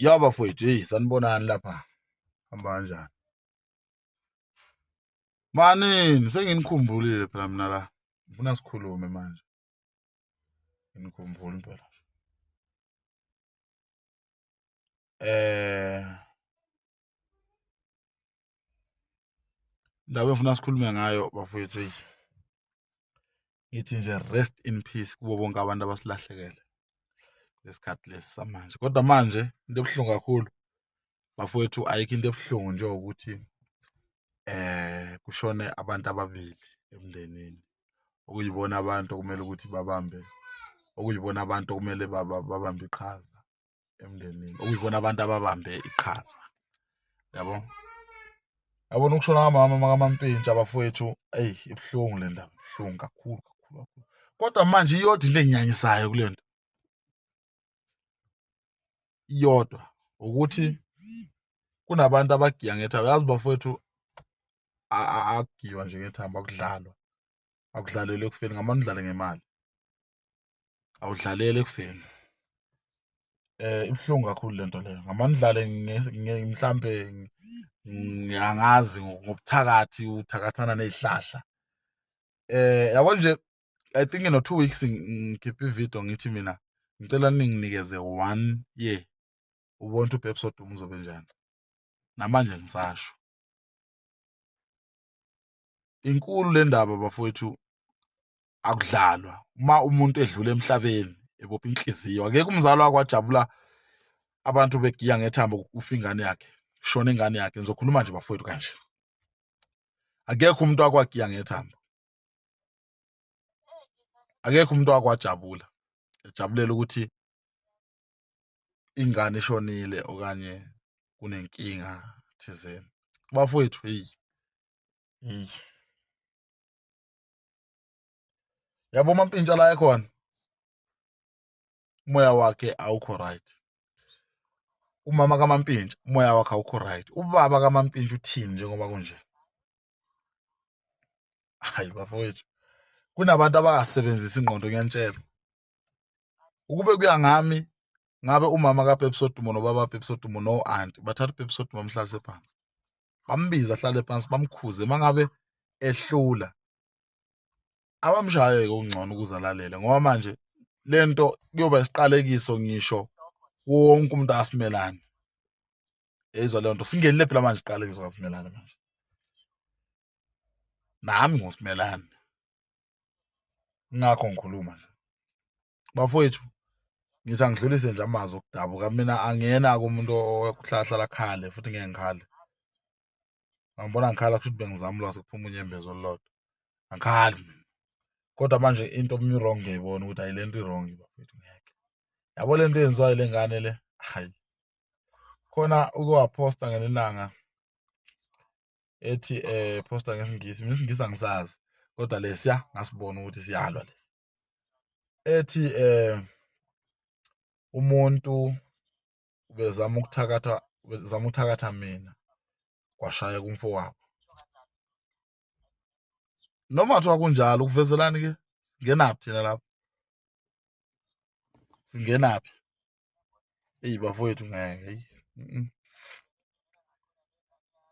ya bafowethu eyi sanibonani lapha hamba kanjani manini senginikhumbulile phela mina la ngifuna sikhulume manje nginikhumbula impela eh ndaba engifuna sikhulume ngayo bafowethu eyi ngithi nje rest in peace kubo bonke abantu abasilahlekele lesikhathi lesi samanje kodwa manje into ebuhlungu kakhulu bafowethu ayikho into ebuhlungu njengokuthi eh kushone abantu ababili emndenini okuyibona abantu okumele ukuthi babambe okuyibona abantu okumele babambe iqhaza emndenini okuyibona abantu ababambe iqhaza yabo yabona ukushona kamama makamampintsha abafowethu eyi ibuhlungu le ndaba ibuhlungu kakhulu kakhulu kakhulu kodwa manje iyodwa into enginyanyisayo kule nto iyodwa ukuthi kunabantu abagiya ngethambo yazi bafowethu akugiywa nje ngethambo akudlalwa akudlalelwe ekufeni ngamane udlale ngemali awudlalele ekufeni eh ibuhlungu kakhulu lento leyo ngamandlale mhlambe ngiyangazi ngobuthakathi uthakathana nezihlahla eh yabo nje i think no 2 weeks ngikhipha ivideo ngithi mina ngicela ninginikeze 1 year ubona ukuthi uepisode uzobe njani namanje ngisasho inkulu le ndaba bafowethu akudlalwa uma umuntu edlula emhlabeni ebopha inhliziyo akekho umzali wakwajabula abantu begiya ngethambo kufa ingane yakhe shona ingane yakhe ngizokhuluma nje bafowethu kanje akekho umuntu wakwagiya ngethambo akekho umuntu wakwajabula ejabulela ukuthi ingane ishonile okanye kunenkinga thizeni bafowethu heyi heyi yabo mampintsha la ekhona umoya wakhe awukho right umama kamampintsha umoya wakhe awukho right ubaba kamampintsha uthini njengoba kunje hayi bafowethu kunabantu abakasebenzisi ingqondo ngiyanitshela ukube kuya ngami ngabe umama kapepsodumo nobaba pepsodumo no anti bathatha upepsodumo amhlalise phansi bambiza ahlale phansi bamkhuze uma ngabe ehlula abamshaye kungcono ukuze alalele ngoba manje lento kuyoba isiqalekiso ngisho wonke umuntu asimelane eyizwa leyo nto singenile phela manje iqalekiso kasimelane manje nami ngusimelane ngakho ngikhuluma nje bafowethu ngithi angidlulise nje amazwi okudabuka mina angiyena kumuntu okuhlahlala khale futhi ngeke ngikhale angibona ngikhala futhi bengizama ulwazi kuphuma unyembezo olulodwa angikhali mina kodwa manje into mi-wrong ngiyayibona ukuthi ayi le nto i-wrong bafethu ngeke yabo le nto yenziwayo le ngane le hayi khona ukuwaphosta ngelilanga ethi eh poster ngesingisi mina isingisi angisazi kodwa lesiya ngasibona ukuthi siyalwa lesi ethi eh umuntu ubezama ukuthakatha ubezama ukuthakatha mina kwashaya kumfowabo noma kuthiwa kunjalo ukuvezelani ke ngenaphi thina lapho singenaphi Eyi bafowethu ngeke eyi. Mm.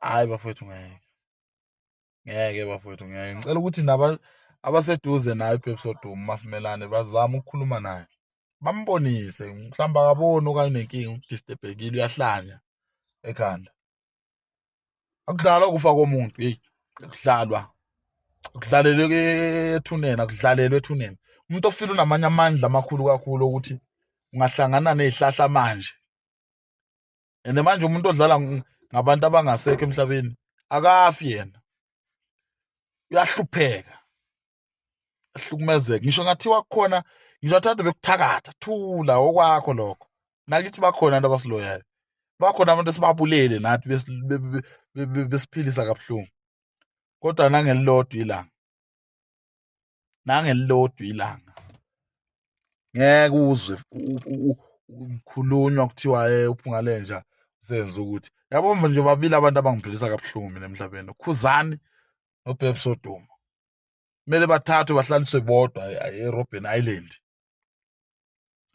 Hayi bafowethu ngeke. Ngeke bafowethu ngeke. Ngicela ukuthi naba abaseduze naye uPepsi Oduma masimelane bazama ukukhuluma naye. Bambonise mhlawumbe akaboni okanye unenkinga udisturbekile uyahlanya ekhanda. akudlalwa ukufa komuntu hey kudlalwa kudlalelwe ethuneni akudlalelwe ethuneni umuntu ofile unamanye amandla amakhulu kakhulu ukuthi ungahlangana nezihlahla manje and manje umuntu odlala ngabantu abangasekho emhlabeni akafi yena uyahlupheka ahlukumezeke ngisho ngathiwa khona ngisho athanda bekuthakatha thula okwakho lokho nakithi bakhona abantu abasiloyayo bakhona abantu esibabulele nathi besiphilisa kabuhlungu kodwa nangelilodwa ilanga nangelilodwa ilanga ngeke uzwe ukukhulunywa kuthiwa eh, uphungalenja senze ukuthi yabo nje babili abantu abangiphilisa kabuhlungu mina emhlabeni ukhuzani nobhebsoduma kumele bathathwe bahlaliswe bodwa eRobben Island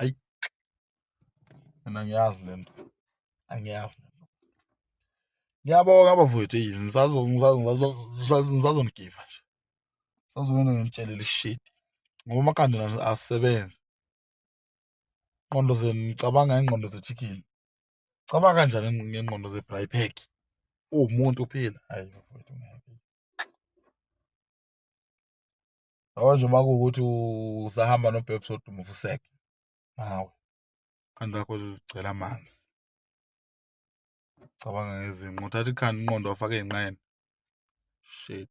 ayi mina ngiyazi lento angiyazi ngiyabonga bafowethu eyi ngisazonigiva nje sazobona ngimtshelele shit ngoba amakhanda asebenze ingqondo zenu ngicabanga ngengqondo ze-chicken cabanga kanjani ngengqondo ze-brypack uwumuntu uphila hayi bafowethu ngeke Ojo uma kuwukuthi usahamba nobhebhi soduma ufuseke hawu ikhanda lakho ligcwele amanzi cabanga ngezinqa uthatha ikhanda inqondo wafaka ey'nqeni shit